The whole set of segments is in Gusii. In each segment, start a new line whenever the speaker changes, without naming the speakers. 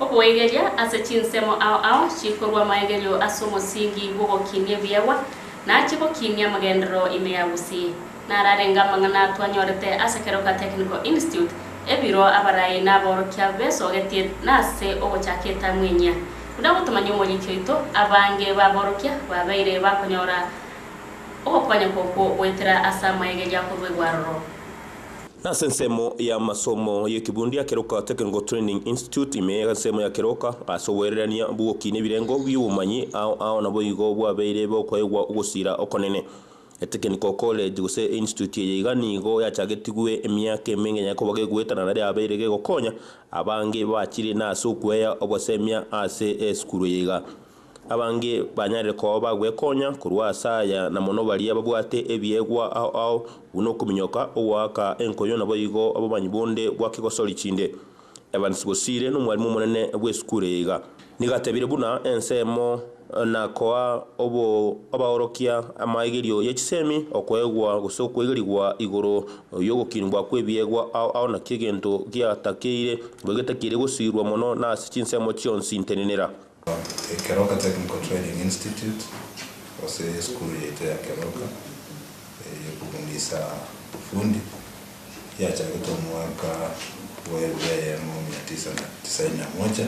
Oboigeria ase chinsemo ao ao chikorua maegerio ase omosingi bw'ogokinia ebiegwa, na achie gokinia amagenderero ime ya gusii. Nararenge amang'ana twanyorete ase Keroka Technical Institute, ebiro abarai na aborokia besogetie na ase ogochaka etamu enyia. Buna gotomanya omoriki oito, abange b'aborokia babeire bakonyora ogokonyeka okwo goetera ase amaegeria akoruegwa aroro. Nase
ensemo y'amasomo y'ekebundia ekeroka Technical Training Institute, ime y'ensemo ya keroka ase oboirerania bw'oboki n'ebirengo bi'obomanyi, ao ao naboigo bwabeire bokoegwa ogosiira okonene. Etekiniko College, gose einstituti eye iga nigo yachagetigwe emiaka emenge nyare koba gegoetana na riabeire gegokonya abange bachire nase okwea obosemia ase esukuru eye iga. Abange banyarire koba bagwekonya korwa ase aya, na mono baria babwate ebiegwa ao ao, buna okominyoka, ogoaka enkonyo, naboigo abomanyi bonde bwa kegosori chinde. Evans Bosire nomwarimu omonene bw'esukuru eye iga nigo atebire buna ensemo na koa abaorokia amaegerio ye chisemi, okoegwa gose okoigerigwa igoro yogokinigwa kw'ebiegwa ao ao naki egento giatakeire, igo getakeire gosiirwa mono nase chinsemo chionsi ntenenera. Ekeroka
Technical Training Institute gose esukuru yaito ya Keroka eyokofundisa obofundi yachagete omwaka bwa elfu eyemo mia tisa na tisaini na moja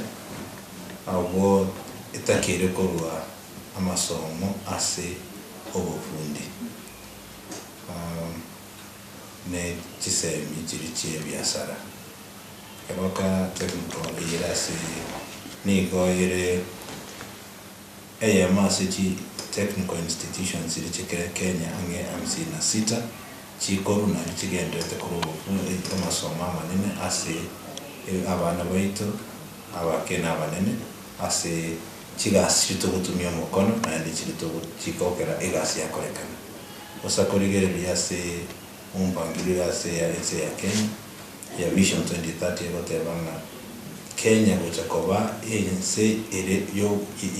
abwo etakeire korwa amasomo ase obofundi. ne chisemi chiria chi'ebiasara. Eroka emito eyere ase eye nigo ere eyemo ase chi technical institutions chiria chikere Kenya ang'e hamsini na sita chikorwa nario chigendererete korwa obokong'u eito amasomo amanene ase abana baito abake na abanene ase chigasi chiria togotumia omokono naende chiria chigokera egasi yakorekana. Osa korigereria ase ompangiri oyo ase eya ense ya Kenya ya Vision 2030 egoteba ng'a Kenya gocha koba ense ere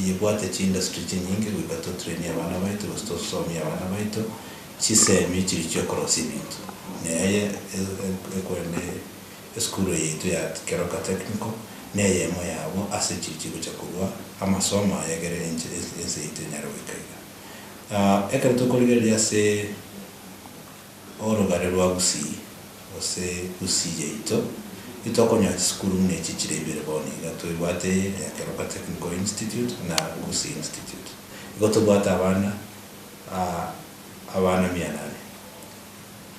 yebwate chiindustry chinyinge goika totrainie abana baito gose tosomie abana baito chisemi chiri chiokorosia ebinto. Neye ekwene esukuru eye yaito ya Keroka Technical neyemo yabo ase chiri chigocha korua amasomo aya ekere ense yaito enyare goika iga. Ekero tokorigereria ase orogare rwa Gusii, gose Gusii yaito, intitokonyora chisukuru buna echi chire ibere bono iga. Tobwate ya Keroka Technical Institute na Gusii Institute. Igo tobwate abana abana mia nane.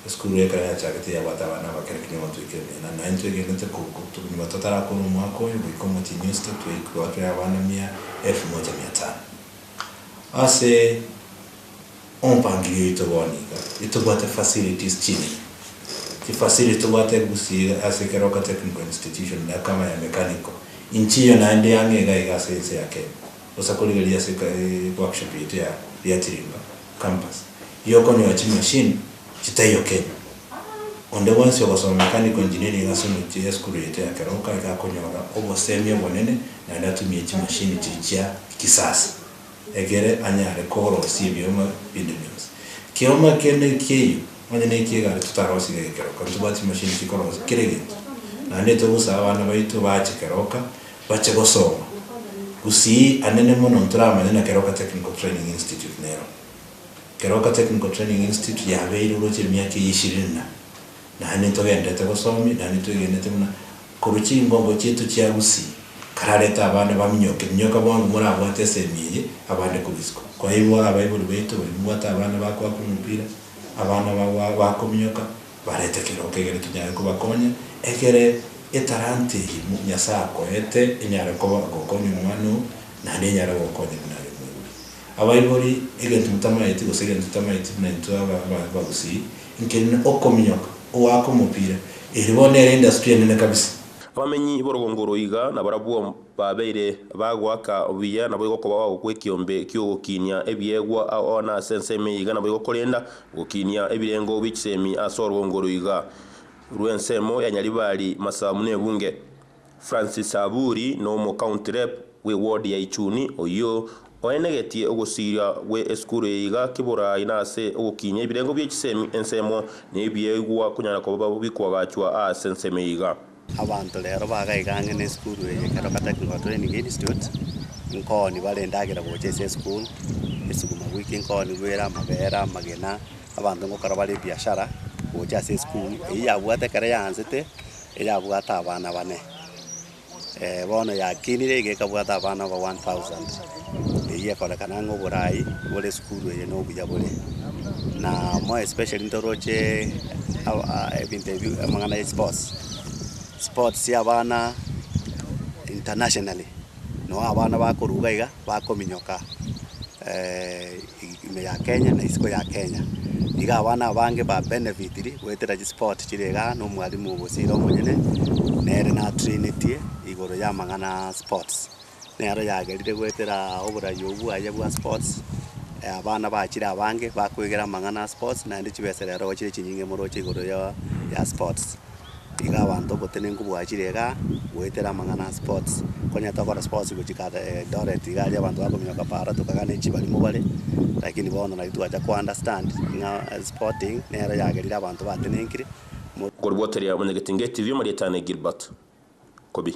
Esukuru ekero yachagete yabwate abana abakera kinya gotoikera mia nane. Naye intwegenete konyuma totarakora omwaka oyo goika omotienyi oisete twaikwa tore abana mia elfu moja mia tano. Ase ompangilio oito bono iga tobwate facilities chibere. Chifacility tobwate gusii ase Keroka Technical Institution na kama ya mechanical. Inche eyo naende yang'e iga iga ase ense ya Kenya. Bosa korigereria ase workshop yaito ya Riachirimba campus. Igo okonyora chimachine chitaiyo Kenya. Onde bwensi ogosoma Ekaniko engineering egase omochie Yesu korwete ekero nkareke akonyora obosemi obonene naende atumie chimashini chichia kisasa egere anyare korosia ebioma binde bionsi. Kioma eke nekeiyo onye neikia egari totarosiga ege keroka ntobwate chimashini chikorosia kera egento naende tobusa abana baito bache keroka bache gosoma gusii anene mono ntoramanye na keroka Technical Training Institute nero. Keroka Technical Training Institute yabeire oroche emiaka eye ishirini na naane togendete gosomi naende twegenete buna korwa chingongo chiaito chia usi kararete abana baminyoke minyoka bwango morabwate esemi eye abande korwa isiko kwairwa abaibori baito bari mbwate abana bakoaka omopira abana bagwa bakominyoka barete keroka egere tonyare kobakonya egere etalanta eye Nyasaye akoete enyare koba gokonya omwana oo naende enyare gokonya buna are omorwoti. Abaibori, egento motamaeti gose egento totamaeti buna intwe aba abagusii, nkerinde okominyoka ogoaka omopira, eri bono nere industry enene kabisa. Abamenyi b'orogongo
oro iga nabarabwo babeire bagoaka buya, nabo igokoba ao gw'ekiombe ki'ogokinia ebiegwa ao na ase ensemo eye iga nabo igokorenda gokinia ebirengo bie chisemi ase orogongo oro iga rw'ensemo ya Nyaribari, Masamu na Ebunge. Francis Saburi n'omocounty rep bw'ewodi ya Ichuni oyio oenegetie ogosiria gwe esukuru eye iga kiborai nase ogokinyia ebirengo bie chisemi ensemo nebiaigwa konyara koba bikoagachwa aase ensemo eye iga.
Abanto rero bagaigang'ina esukuru eye ekero gataki ngoo training institute nkoni bare endagera gocha ase esukuru esuguma wiki nkoni bwere amabere amagena abanto ngokora bare ebiashara gocha ase esukuru eyio yabwate ekero yaanzete. eyabwate abana bane, ee, bono yakinire iga ekabwata abana over one thousand, eyio ekorekana ng'a oborai bore esukuru eye nobuya bore. Na more especially ntoroche aba ebinto ebi amang'ana ya esports, sports ya abana internationally, noo abana bakorwa iga iga bakominyoka. Ime ya Kenya na isiko ya Kenya. Iga abana abange ba benefitiri goetera chispoti chire iga na omwalimu bosire omonyene nere na trainetie igoro ya amang'ana a sports. Nero yagerire goetera oborai obwo bwaye bwa sports abana bachire abange bakoigera amang'ana a sports naende chibesa rero chire chinyinge moroche igoro ya sports. Iga abanto obotenenku bwachire iga goetera amang'ana a sports. Konya tokora sports gochika aa Eldoret iga aria abanto bakominyoka para tokagana echibarimo bare, lakini bono naki twacha ko understand ng'a sporting nero yagerire abanto batenenkire.
Korwa goteria Omonyagetinge TV, Marietane Gilbert, Kobi.